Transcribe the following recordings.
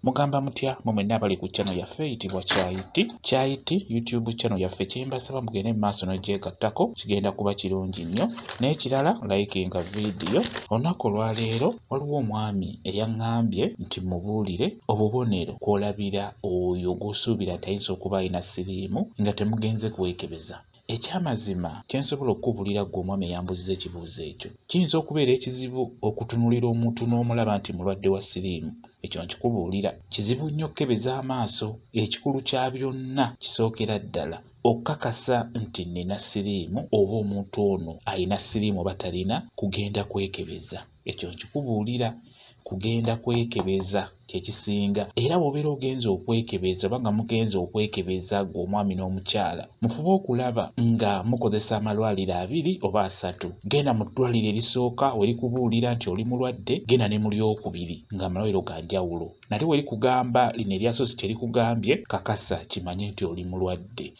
mugamba mutya mwe mwenna abali ku channel yaffe eyitibwa kyayiti kyayiti youtube channel yaffe kyembasaba mugende mu maaso nogyegattako kigenda kuba kirungi nnyo n'ekirala likinga vidiyo olunaku olwaleero waliwo omwami eyaŋŋambye nti mubuulire obubonero kwolabira oyo gwosuubira tayinza okuba alina siriimu nga temugenze kwekebeza Eky'amazima kye nsobola okukubulira ggwe omwami eyambuziza ekibuuzo ekyo. Kiyinza okubeera ekizibu okutunulira omuntu n'omulaba nti mulwadde wa siriimu. Ekyo nkikubuulira. Kizibu nnyo okukebeza amaaso. Ekikulu kya byonna kisookera ddala okukakasa nti nnina siriimu oba omuntu ono alina siriimu oba talina kugenda kwekebeza. ekyo nkikubuulira kugenda kwekebeza kyekisinga era bwobeera ogenza okwekebeza oba nga mugenza okwekebeza gwe omwami n'omukyala mufube okulaba nga mukozesa amalwaliro abiri oba asatu genda mu ddwaliro erisooka werikubuulira nti oli mulwadde genda ne mu lyokubiri nga amalwaliro ga njawulo nate werikugamba lino eryasosi kyerikugambye kakasa kimanye nti oli mulwadde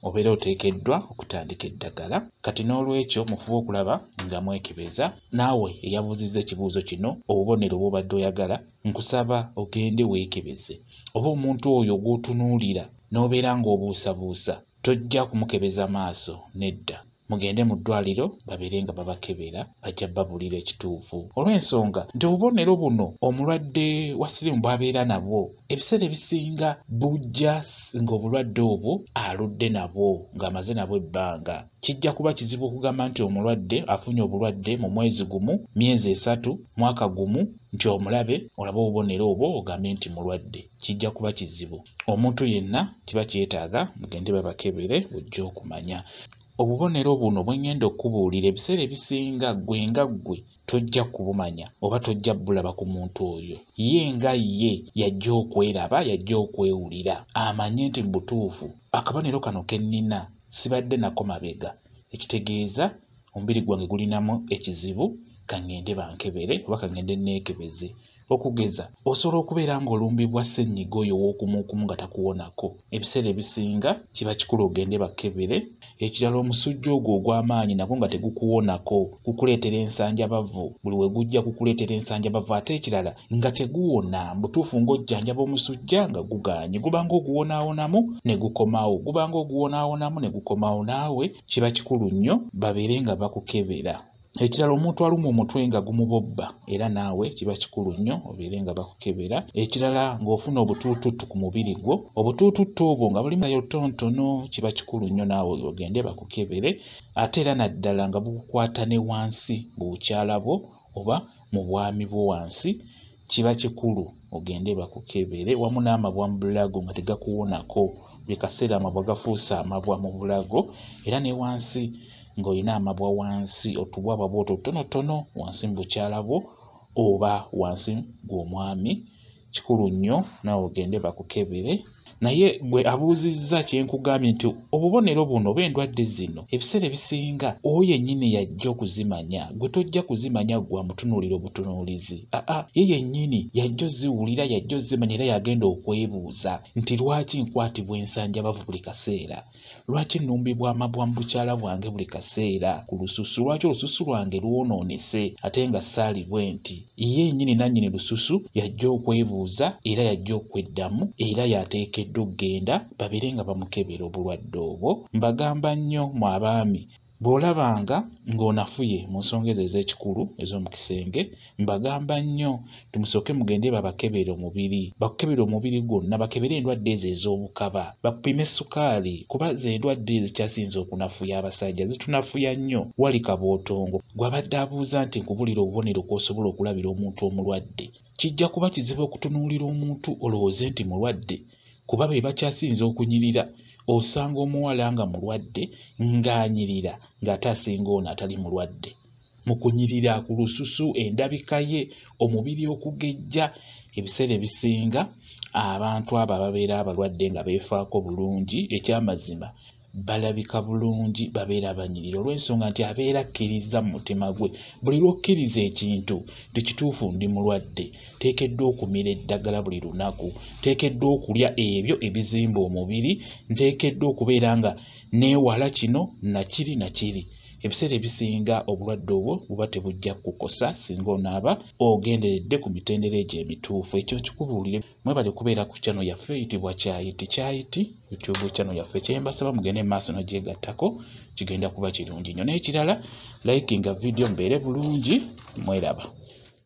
obeera oteekeddwa okutandika eddagala kati n'olwekyo mufube okulaba nga mwekebeza naawe eyabuuzizza ekibuuzo kino obubonero bwobadde oyagala nkusaba ogende weekebeze oba omuntu oyo gw'otunuulira n'obeera ng'obuusabuusa tojja kumukebeza maaso nedda mugende mu ddwaliro babeere nga babakebera bajja babulira ekituufu olw'ensonga nti obubonero buno omulwadde wa sirimu bwabeera nabwo ebiseera ebisinga bujja ng'obulwadde obwo aludde nabwo ng'amaze nabwo ebbanga kijja kuba kizibu okugamba nti omulwadde afunye obulwadde mu mwezi gumu myezi esatu mwaka gumu nti omulabe olaba obubonero obwo ogambe nti mulwadde kijja kuba kizibu omuntu yenna kiba kyetaaga mugende babakebere ojja okumanya obubonero buno bwe ngenda okubuulira ebiseera ebisinga ggwe nga ggwe tojja kubumanya oba tojja bulaba ku muntu oyo ye nga ye yajja okweraba yajja okwewulira amanye nti mu butuufu akabonero kano ke nnina sibadde nako mabega ekitegeeza omubiri gwange gulinamu ekizibu kangende bankebere oba kangende neekebeze okugeza osobola okubeera ng'olumbibwa ssennyiga oyo ow'okumuukumu nga takuwonako ebiseera ebisinga kiba kikulu ogende bakebere ekirala omusujja ogwo ogw'amaanyi nagwo nga tegukuwonako gukuleetera ensanjabavu buli we gujja gukuleetera ensanjabavu ate ekirala nga teguwona butuufu ng'ojjanjaba omusujja nga gugaanye gubanga oguwonaawonamu ne gukomawo gubanga oguwonaawonamu ne gukomawo naawe kiba kikulu nnyo babeere nga bakukebera ekirala omuntu alumwa omutwe nga gumubobba era naawe kiba kikulu nnyo obeere nga bakukebera ekirala ng'ofuna obutuututtu ku mubiri gwo obutuututtu obwo nga bulimu naye obutonotono kiba kikulu nnyo naawe ogende bakukebere ate era naddala nga bukukwata ne wansi mu bukyala bwo oba mu bwami bwo wansi kiba kikulu ogende bakukebere wamu n'amabwa mu bulago nga tegakuwonako buli kaseera amabwa gafuuse amabwa mu bulago era ne wansi ng'olina amabwa wansi otubwa bwaba otwo otutonotono wansi mu bukyala bwo oba wansi gw'omwami kikulu nnyo naawe ogende bakukebere naye gwe abuuzizza kyenkugambye nti obubonero buno oba endwadde zino ebiseera ebisinga oyo yennyini yajja okuzimanya gwe tojja kuzimanya gwa mutunuulira obutunuulizi aa ye yennyini yajja oziwulira yajja ozimanya era yagenda okwebuuza nti lwaki nkwatibwa ensanjabavu buli kaseera Lwaki nnumbibwa amabwa mu bukyala bwange buli kaseera ku lususu? Lwaki olususu lwange lwonoonese ate nga saali bwe nti? Ye nnyini nannyini lususu yajja okwebuuza era yajja okweddamu era y'ateekeddwa okugenda babeere nga bamukebera obulwadde obwo. Mbagamba nnyo, mmwe abaami, Bw'olabanga ng'onafuye mu nsonga ezo ez'ekikulu ez'omu kisenge, mbagamba nnyo nti musooke mugende babakebere omubiri, bakukebere omubiri gwonna, bakebere endwadde ezo ez'obukaba, bakupime ssukaali kuba z'endwadde ezikyasinze okunafuya abasajja, zitunafuya nnyo. Wali Kabootongo gw'abadde abuuza nti nkubuulire obubonero kw'osobola okulabira omuntu omulwadde. Kijja kuba kizibu okutunuulira omuntu olowooze nti mulwadde kuba be bakyasinze okunyirira. Osanga omuwala nga mulwadde ng'anyirira ng'ate asinga ono atali mulwadde. Mu kunyirira ku lususu, endabika ye, omubiri okugejja, ebiseera ebisinga abantu abo ababeera abalwadde nga beefaako bulungi eky'amazima balabika bulungi babeera abanyirira olw'ensonga nti abeera akkirizza mu mutima gwe buli lw'okkiriza ekintu nti kituufu ndi mulwadde nteekeddwa okumira eddagala buli lunaku nteekeddwa okulya ebyo ebizimba omubiri nteekeddwa okubeera nga neewala kino nakiri nakiri ebiseera ebisinga obulwadde obwo buba tebujja kukukosa singa onaaba ogenderedde ku mitendera egyo emituufu ekyo nkikubuulire mwebale kubeera ku chano yaffe eyitibwa kyayiti kyayiti youtube chano yaffe kyembasaba mugende maaso nagyegattako kigenda kuba kirungi nnyo n'ekirala likinga vidiyo mbeere bulungi mweraba